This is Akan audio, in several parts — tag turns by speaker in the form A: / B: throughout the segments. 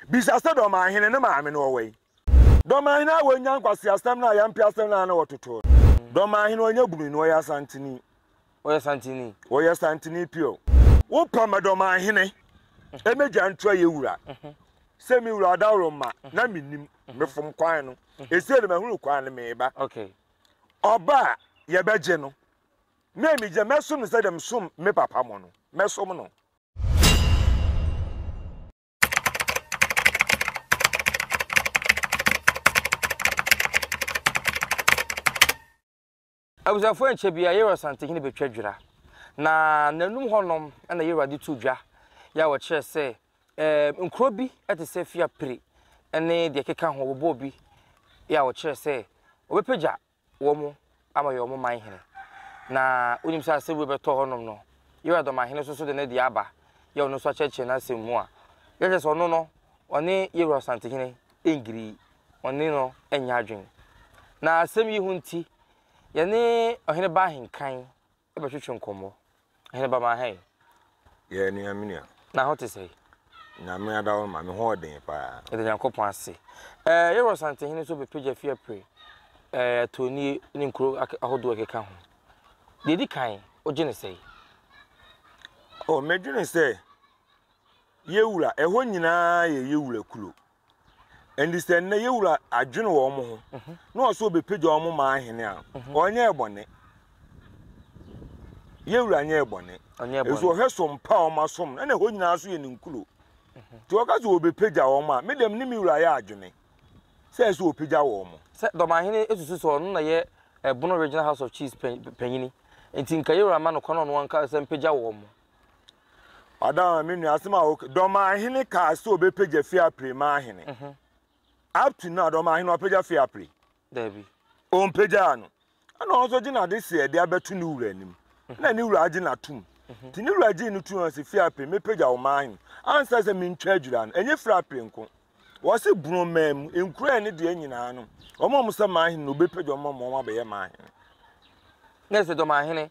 A: bisa sɛ, Dɔmahene no maame no ɔwɔ he? Dɔmahene a wanya nkwaseasɛm no a yɛampɛ asɛm no a na wɔtotoo no. Dɔmahene a ɔnyɛ bunu no, ɔyɛ Asanteni. Ɔyɛ Asanteni. Ɔyɛ Asanteni pure. Wopa ma Dɔmahene mmɛgya nto ayɛ wura sɛ me wura Adaworoma na mennim, mefom kwan no. Ɛsei de mahunu kwan no, meba.
B: Ɔba a
A: yɛbɛgye no na ɛmegya mɛsom no sɛdeɛ mesom me papa mo no, mɛsom no.
B: Abusuafoɔ ankyɛ biara Yerua Asantehene bɛtwa dwira, na n'anum hɔnom na Yerua de to dwa yɛ a wɔkyerɛ sɛ ɛɛ nkuro bi te sɛ Fiapre ne deɛ ɛkeka ho wɔbɔɔ bi yɛ a wɔkyerɛ sɛ wɔbɛpagya wɔn ama wɔyɛ wɔn man hene. Na wonim sɛ asɛm wei bɛtɔ hɔnom no, Yoiada ɔmanhene nso so de ne deɛ aba, yɛ ɔno nso akyerɛkyerɛ n'asɛm mu a, yɛkyerɛ sɛ ɔno no, ɔne Yeroboam Santehene ngirii, ɔne no nyɛ adwene. Na asɛm yi ho nti, yɛne ɔhene baa ahenkan. Bɛtwetwe nkɔmmɔ. Hene ba maa hɛn. Yɛ nua
A: me nua. Na ho te sɛn?
B: Nyame ada wo
A: ma me ho ɔden paa. Yɛda Nyankopɔn ase.
B: Eh, yɛwɔ Asantehene nso bɛpagya fi apre eh, Atuonie ne nkuro ahodoɔ ɛkeka ho. Deɛ ɛdi kan, wogye ne sɛn?
A: Oh, medwene sɛ Yewura, ɛhɔ nyinaa yɛ Yewura kuro. Ɛnde sɛ nnɛ Yewura adwene wɔn ho na ɔse ɔbɛpagya wɔn ma ahene a, ɔnyɛɛ bɔne. Yewura nyɛɛ bɔne. Ɛso ɔhwɛ so mpa a wɔn asom no, ɛna ɛhɔ nyinaa nso yɛ ne nkuro. Nti ɔka sɛ ɔbɛpagya wɔn a, me deɛ me ne me wura yɛ adwene sɛ ɛsɛ ɔpagya wɔn. Sɛ Dɔmahene susu
B: sɛ ɔno na yɛ Ɛbono Regional House of Chiefs panyini nti nka Yewura ma no kwan na ɔno ankasa mpagya wɔn.
A: Ɔdɔn me nua asɛm a woka dɔmahene kaa sɛ ɔbɛpagya fie apire ma ahene mhm. up to now dɔmahene ɔpagya fie apire dabi
B: ɔmpagyaa
A: no ɛna ɔno nso gye n'ade sɛ ɛde abɛto ne wura anim mhm. na ne wura agye n'atom mhm. nti ne wura gyee no tum sɛ fie apire mepagya wo ma ahene ansa sɛ mentwa adwira no ɛnyɛ firi apire nko wɔse borɔmaa mu nkura ne deɛ nyinaa no wɔn a wɔsɛ ma ahene na ɔbɛpagya wɔn ma wɔn abɛyɛ ma ahene
B: na ɛsɛ dɔmahene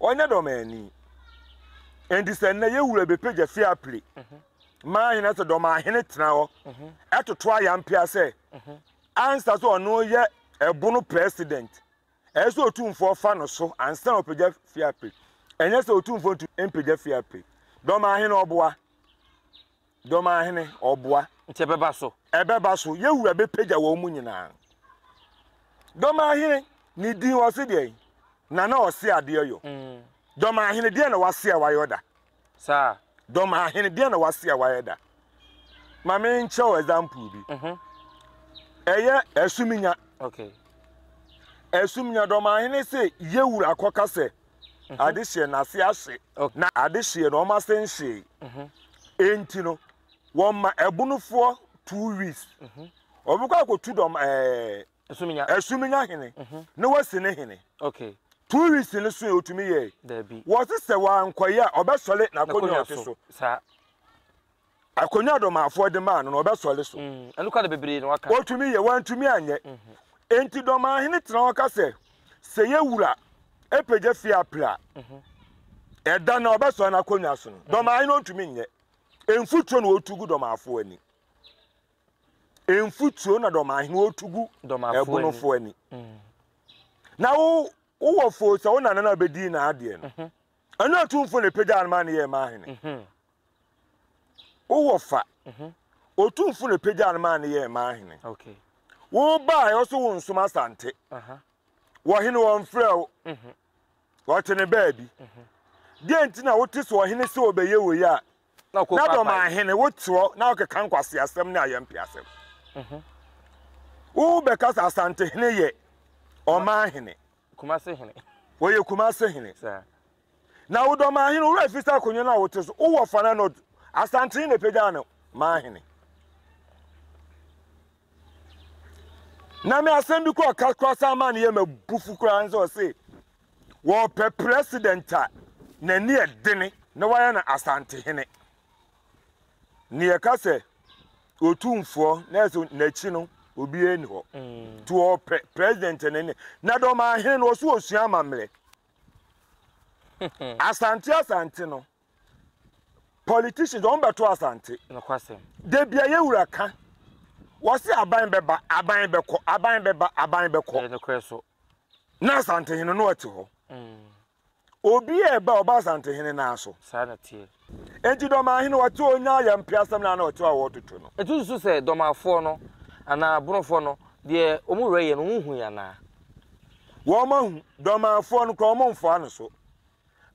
A: Ɔnyɛ dɔmmaani. Enti sɛ nnɛ yɛn wura bɛpagya fie apire ma ahene na sɛ dɔmmaahene tena hɔ toto ayampea sɛ ansa sɛ ɔno yɛ ɛbono president, ɛyɛ sɛ otumfoɔ fa no so ansa na ɔpagya fie apire. Ɛnyɛ sɛ otumfoɔ ntu mpagya fie apire. Dɔmmaahene ɔboa. Dɔm ara hene, ɔboa. Nti ɛbɛba so.
B: Ɛbɛba so, yɛ Wura bɛpagya
A: wɔn mu nyinaa. Dɔm ara hene, ne din ɔse deɛn? Na na ɔse adeɛ yɔ. Dɔm ara hene, deɛn na wase a wayɔ da? Saa.
B: Dɔm ara hene,
A: deɛn na wase a wayɛ da? Ma me nkyɛ wo example bi. Ɛyɛ Asumnya. Okay. Asumnya, Dɔm ara hene se yɛ Wura kɔka sɛ. ade hyeɛ no ase ahye, na ade hyeɛ no wɔn ase nhyee. Enti no, wɔma ɛbonofoɔ two weeks. Wɔbɛkɔ akɔtu dɔm ɛɛ asuminya hene na wɔasi ne hene. Two
B: weeks no so
A: yɛ ɔtumi yɛe. Wɔse sɛ
B: wankɔyɛ
A: a ɔbɛsɔre n'akonnwa ɔte so. Akonnwa a ɔdɔmaafoɔ de maa no no, ɔbɛsɔre so. Ɛno kora na bebree na
B: wɔaka. Wɔtumi yɛ, wɔantumi anyɛ.
A: Enti dɔmaahene tena hɔ ka sɛ, Sɛ yɛn wura pagya fie apere a, ɛda no a ɔbɛsɔre n'akonnwa so no, dɔmaahene ɔntumi nyɛ. Mfuturo na wɔtu gu dɔmaafoɔ ani. Mfuturo na dɔmaahene wɔtu gu ɛbonofoɔ ani. Na wo wowɔ foo sɛ wo nana no a bɛdii n'adeɛ no, ɛno atumfoɔ na ɛpagyaa no maa no yɛɛ maahene. wo wɔfa mhm. ɔtumfo na pagyaa no maa no yɛɛ maa hene wobaeɛ ɔso
B: wo nsom
A: asante wɔhene wɔmfrɛ wo mhm. ɔte ne baabi mhm. deɛ nti na wote so ɔhene sɛ ɔbɛyɛ wei a na dɔm ahene woteɔ na wokeka nkwase asɛm ne ayɛ mpe asɛm wobɛka sɛ asante hene yɛ ɔma hene
B: ɔyɛ kumase
A: hene
B: Na wo dɔ
A: m'ahene wura firi sɛ akonnwa no a wote so wowɔ fa na nod asantene na ɛpagyaa no m'ahene. na me asɛm bi kɔ ɔka kora saa ma no yɛ mabufu koraa ne sɛ ɔse wɔpɛ president a n'ani ɛdene na wayɛ no asantehene ne yɛka sɛ ɔtumfoɔ na ɛsɛ n'akyi no obiara ni hɔ mm. nti wɔpɛ president n'ani na dɔm ahene no ɔso ɔsua amammerɛ asante asante no politicians wɔn bɛto asante
B: debi a yɛwura
A: ka wɔsi aban bɛba aban bɛkɔ aban bɛba aban bɛkɔ
B: na asante
A: hene no ɛte hɔ mm. obi a ɛba ɔba asante hene naa so saa na teɛ
B: Enti Dormaa hene
A: ɔte ɔnyaa yɛ mpe asɛm no ana ɔte a ɔɔtoto no. Etu susu sɛ Dormaafoɔ
B: no anaa Bonofoɔ no deɛ wɔn wura yɛ no wɔn nhui anaa? Wɔn
A: ahu. Dormaafoɔ no koraa wɔn mfoa no so.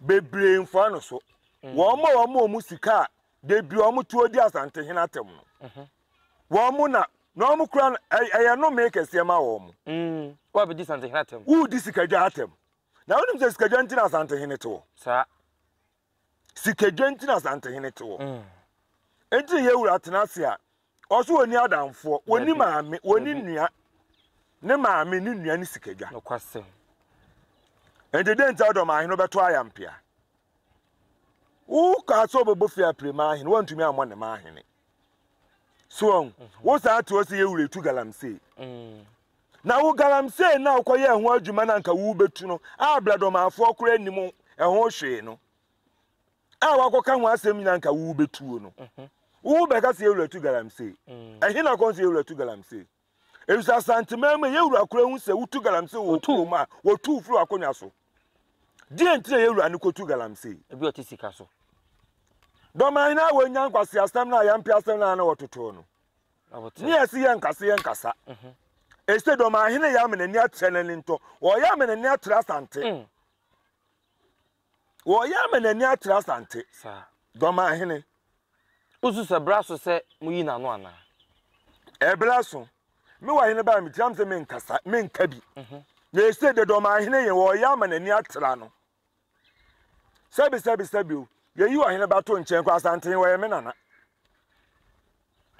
A: Bebree mfoa no so. Wɔn ma wɔn wɔn sika a da bi wɔn to ɔdi Asantehene atɛm no. Wɔn na, na wɔn koraa no ɛ, ɛyɛ nomee kɛseɛ ma wɔn. Mm, woabɛdi Asantehene
B: atɛm. Woredi sikadwa atɛm.
A: Na wonim sɛ sikadwa nti na Asantehene te hɔ. Saa. Sikadwa nti na Asantehene te hɔ. Enti na Yawura atena ase a, ɔso wɔni adamfoɔ, wɔni maame, wɔni nnua. Ne maame, ne nnua, ne sikadwa.
B: Enti
A: dɛn nti a ɔdɔm ahene bɛto ayampea? Wo kaa sɛ ɔbɛbɔ fie apire ma ahene, wɔntumi ammɔ ne ma ahene. So wɔn, wo saa te hɔ sɛ Yawura etu galamsey. Na wo galamsey no a wokɔyɛɛ ho adwuma no anka worebetu no a brɛdomaafoɔ koraa nnim ɛho hwee no a woakɔka ho asɛm nyinaa anka worebetuo no. Mhm. Wobɛka sɛ yɛwura tu galamsey. Mm. Ɛhe na kɔn sɛ yɛwura tu galamsey? Efisɛ Asanteman mu yɛwura koraa hu sɛ wotu galamsey wɔ kurom a wɔtu firi akonnwa so. Deɛ nti na yɛwura no kɔtu galamsey. Ebi ɔte sika so.
B: Dɔm
A: ahene a wɔnya nkwaseasɛm no a yɛmpe asɛm no a na wɔtotoo no. ne ase yɛ nkase yɛ nkasa ɛsɛ dɔm ahene yɛ ama n'ani atrɛ n'ani ntɔ wɔyɛ ama n'ani atrɛ asante mm. wɔyɛ ama n'ani atrɛ asante dɔm
B: ahene
A: wosu
B: sɛ bra so sɛ moyi n'ano anaa ɛbra
A: so me wɔ ahene baa metiam sɛ menkasa menka bi mhm. na ɛsɛ dɛ dɔm ahene yɛ wɔyɛ ama n'ani atra no Sɛbi sɛbi sɛbi o, yɛyi ɔhene ba to nkyɛn kɔ Asanten, wɔyɛ me nana.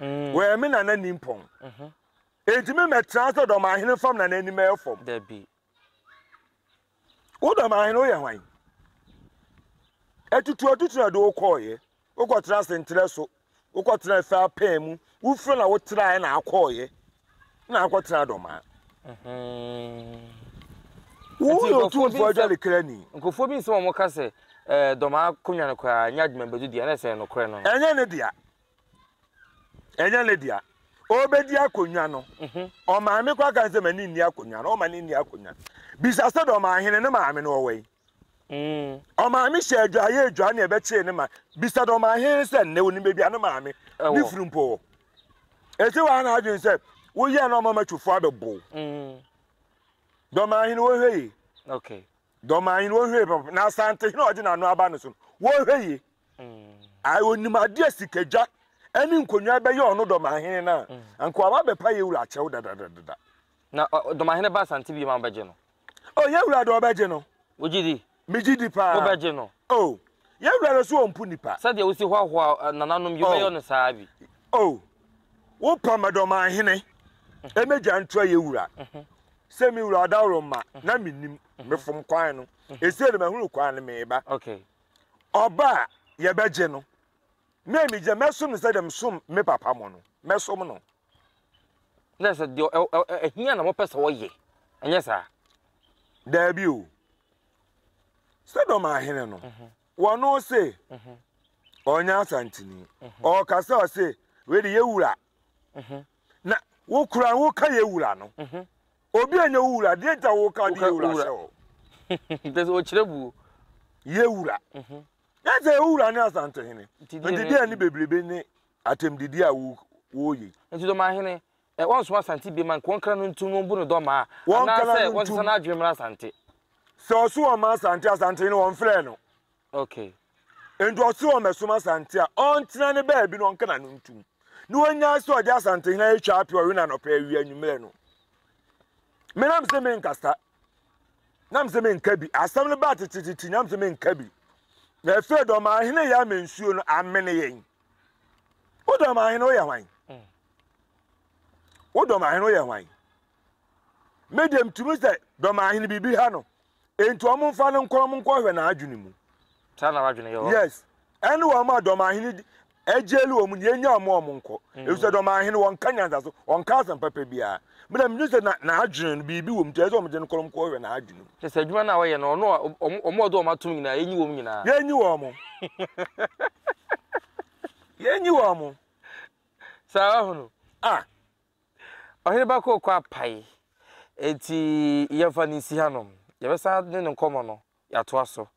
A: Mm. Wɔyɛ me nana nimpɔn. Mhm. Enti me mɛtena sɛ dɔm ahene fam na n'anim ɛyɛ fam. Dabi.
B: Wo
A: dɔm ahene woyɛ hwan? Atutu atutu na de wokɔɔyɛ. Wokɔtena ase ntrɛ so, wokɔtena efe apɛn mu, wofiri na wotraɛ na akɔɔyɛ, na akɔtena dɔmaa. Wo yɛ otumfoɔ agya ne krani. Nkurɔfoɔ bi nsɛm a wɔka
B: sɛ eh, dɔmaa konwa no koraa nyɛ adwuma bɛdu deɛ na ɛsɛ nokorɛ no. Ɛnyɛ ne dea.
A: Ɛnyɛ ne dea. Ɔbɛdi akonnwa no. Mhm. Ɔmaame kɔ aka sɛ m'ani nni akonnwa no, ɔma ne nni akonnwa. Bisa sɛ dɔmaa hene ne maame no ɔwɔ yi. Ɔmaame hyɛ adwaa yɛ adwaa na ɛbɛkyee ne ma. Bisa dɛ ɔmaahen sɛ nnɛ onim baabi a ne maame, ne funu mpo wɔ. Eti waa n'adwene sɛ woyɛɛ na ɔmama twofo abɛbow. Dɛ ɔmaahen wɔhwɛ yie.
B: Dɛ ɔmaahen wɔhwɛ
A: yie papa. Na Asantehene a ɔde n'ano aba no so no, wɔhwɛ yie. Ae, onim ade a sikadwa ne nkonnwa bɛyɛ ɔno dɛ ɔmaahen no a, anka waba abɛpa yɛn wura akyɛw dadadada. Na
B: ɔdomahene Baasa nte bio ma wobɛgye no. O, yɛn Wura de
A: ɔbɛgye no. Wogye di? Megye
B: di paa.
A: Wobɛgye no? O,
B: yɛn
A: Wura de so ɔmpo nnipa. Sɛdeɛ wosi hoahoa
B: nananom yi, wobɛyɛ no saa ara bi. O,
A: wopɛ ma dɔmahene mmɛdwa ntoa yɛn Wura. Sɛ me Wura ɔdaworoma, na mennim, mefom kwan no. Ɛsei de mahunu kwan no, mereba.
B: Ɔba a,
A: yɛbɛgye no. Me a migye, mɛsom no sɛdeɛ mesom me papa mo no, mɛsom no.
B: Na sɛ deɛ ɔ, ɔ, ɔ, ɛhia na mopɛ sɛ wɔyɛ, ɛnyɛ saa? Daabi
A: o. Sodom ahene no, wɔn ose, ɔnyɛ Asantini. Ɔkasa ɔse, wei de yɛ wura. Na wo kura woka yɛ wura no. Obi a nyɛ wo wura, deɛ nti a woka de yɛ wura hyɛ hɔ? Kyerɛ sɛ
B: ɔkyerɛ buo. Yɛ wura.
A: Yɛ sɛ wo wura ne Asantehene. Nti deɛ Nti deɛ ne bebrebe
B: ne
A: atɛmdidi a wo wɔreyɛ yi.
B: Nti
A: Dɔmahene, eh,
B: wɔnsoma Asante biem a nka wɔnkra no ntom wɔmbu no Dɔmaa, Wɔnkra anaasɛ no wɔnsesa ntom. n'adwene mmra Asante. Sɛ ɔse
A: wɔmma Asante a, Asantehene wɔmfrɛɛ no. Okay.
B: Nti ɔse
A: wɔmmɛsom Asante a, ɔntena ne baabi na ɔnkra no ntom. Na wannyae sɛ ɔde Asantehene atwa apɛ ɔwe no anɔpa, awia, anwummerɛ no. Menam se menkasa. na mese menka bi asɛm no baa tetetete na mese menka bi na afei dɔm ahene yɛ ama nsuo no amene yɛn wo dɔm ahene woyɛ hwan mm. wo dɔm ahene woyɛ hwan me deɛ mtumi sɛ dɔm ahene biribi ha no enti ɔmo mfa no nkɔ ɔmo nkɔhwɛ n'adwene mu
B: yes ɛne wɔn
A: a dɔm ahene Agyili wɔn na yɛnyaa wɔn a wɔnkɔ, efisɛ dɔm ahene wɔnka nyansaso, wɔnka asɛm papa biara. Me na midwen sɛ na n'adwene no biribi wɔ mu nti ɛsɛ sɛ wɔde no kɔm kɔhwɛ n'adwene mu. Kyerɛ sɛ adwuma no a wɔyɛ no ɔno
B: a wɔn a ɔde wɔn atom nyinaa yɛnyi wɔn nyinaa. Yɛnyi wɔn.
A: Yɛnyi wɔn. Saa
B: wahunu. Ah. Ɔhene ba kɔɔ kɔ apae. Enti yɛmfa no nsi hanom. Yɛbɛsan ne no nkɔmmɔ no. Yɛatoa so.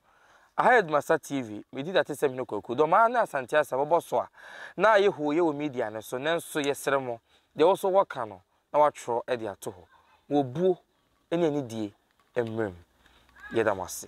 B: Aha yɛ Dumasa TV, medi Datesɛm Hene Kwaku. Dɔmaa ne Asante Asa bɔbɔ so a, na ayɛ hooyɛ wɔ media no so, nanso yɛsrɛ mo, deɛ ɔwɔ so wɔka no na wɔatwerɛ de ato hɔ. Mo obuo ne anidie mmerɛ mu. Yɛda mo ase.